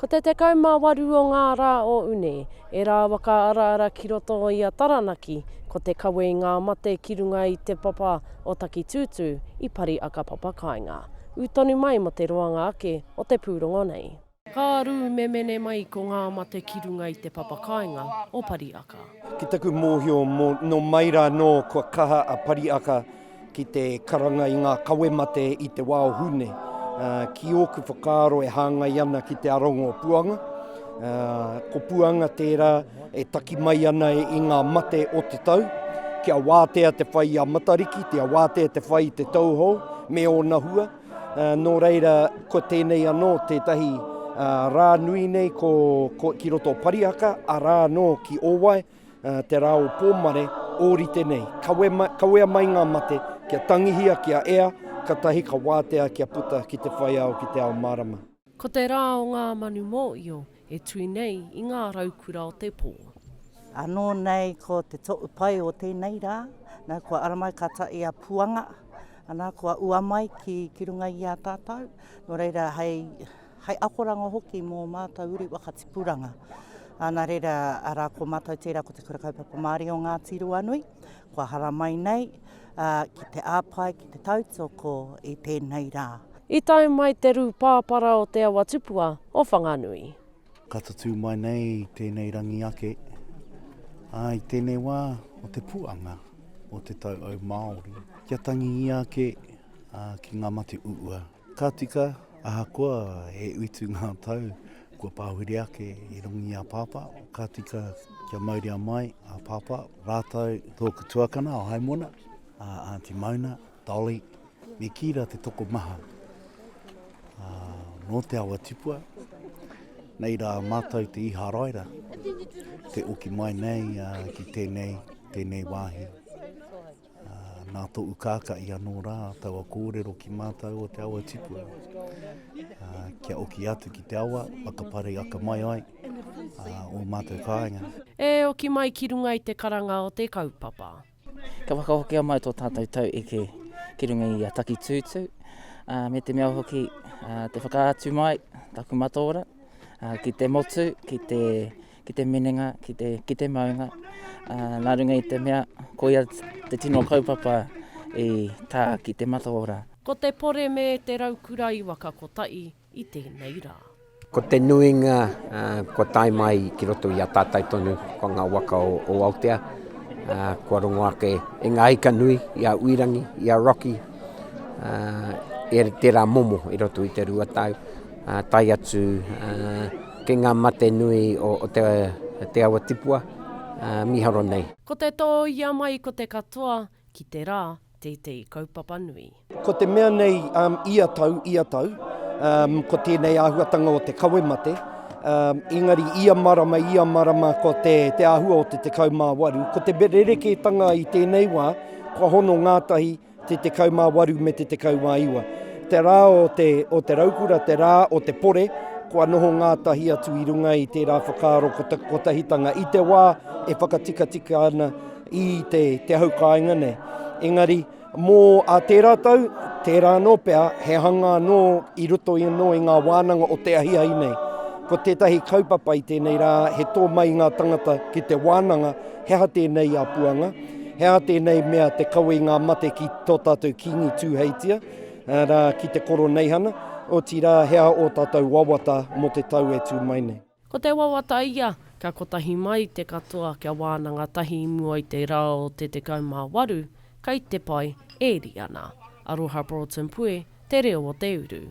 Ko te 18 o ngā rā o Une, e rāua ka araara ki roto i a Taranaki, ko te kawe i ngā mate ki runga i te papa o Takitūtū i pari a ka papa kāinga. Ū tonu mai mō te roanga ake o te pūrongo nei. Ka rū memene mai ko ngā mate ki runga i te papa kāinga o Pariaka. Ki taku mōhio, nō mai rā nō kua kaha a Pariaka. ki te karanga i ngā kawe mate i te wā o Hune, ki ōku whakaaro e hāngai ana ki te aronga o Puanga. Ko Puanga tērā e taki mai ana i ngā mate o te tau, kia wātea te whai i a Matariki, kia wātea te whai i te tauhou me ōna hua. Eh, nō reira, ko tēnei anō tētahi eh, rā nui nei ko, ko ki roto o Parihaka, arā anō ki Owai, Te rā o Pōmare, ōrite nei. Kawe, kawea mai ngā mate, kia tangihia, kia ea, katahi ka wātea kia puta ki te whaiao, ki te ao mārama. Ko te rā o ngā manu mōio e tui nei i ngā raukura o te pō. Anō nei ko te toʻu pai o tēnei rā, nā kua ara mai ka taʻi a Puanga, ana kua ua mai ki, ki runga i a tātou, nō reira hei, hai akoranga hoki mō mātou uri waka tipuranga. Ana reira, ara ko mātou tērā ko te Kura Kaupapa Māori o Ngāti Ruanui, kua haramai nei uh, ki te āpae, ki te tautoko i tēnei rā. I tae mai te rū pāpara o Te Awa Tupua o Whanganui. Ka tatū mai nei tēnei rangi ake, ā, i tēnei wā o te puanga o te tau au Māori, kia tangi ia ake ā, ki ngā mate uua. Ka tika, ahakoa e utu ngā tau, kua pāwhiri ake i rongo i a Pāpā. Ka tika kia mauria mai a Pāpā rātou tōku tuakana o Haimona, a Aunty Mauna, Dolly, me Kīra te tokomaha nō Te Awa Tipua. Nei rā mātou te Iharaira, te oki mai nei ki tēnei, tēnei wāhi. Nā tō ukākaʻi anō rā taua kōrero ki mātau o te awa tipua. Kia oki atu ki te awa, whakaparei akamai ai o mātau kāinga. E oki mai ki runga i te karanga o te kaupapa. Ka whakahokia mai tō tātau tau eke ki runga i a Takitūtū, me te mea hoki te whakaatu mai taku mataora ki te motu, ki te ki te minenga, ki te, ki te maunga, uh, nā runga i te mea, koia te tino kaupapa i tā ki te mataora. Ko te pore me te raukura i waka kotahi i tēnei rā. Ko te nuinga uh, kua tae mai ki roto i a tātai tonu, ko ngā waka o, o Aotea, uh, kua rongo ake e ngā ika nui, i a Uirangi, i a Rocky, uh, e tērā momo i roto i te rua tau. tae atu ki ngā mate nui o te awa tipua mīharo nei. Ko te tōia mai ko te katoa ki te rā tētehi kaupapa nui. Ko te mea nei ia tau, ia tau, ko tēnei āhuatanga o te kawe mate, engari ia marama, ia marama ko te āhua o te 18. Ko te rerekētanga i tēnei wā, kua hono ngātahi, Te 18 me te 19. Te rā o te, o te raukura, te rā o te pore, kua noho ngātahi atu i runga i tērā whakaaro kotahitanga i te wā e whakatikatika ana i te, te hau kāinga nei. Engari, mō a tērā tau, tērā anō pea, he hanga anō i roto i anō i ngā wānanga o te ahiahi nei. Ko tētahi kaupapa i tēnei rā, he tō mai ngā tangata ki te wānanga, He aha tēnei a Puanga? He aha tēnei mea te kawe i ngā mate ki tō tātou Kīngi Tūheitia, arā, ki te Koroneihana, otirā, he aha ō tātou wawata mō te tau e tū mai nei? Ko te wawata ia, kia kotahi mai te katoa kia wānanga tahi i mua i te rā o te 18, kei te pai, e ri ana. Aroha Broughton Pue, Te Reo o Te Uru.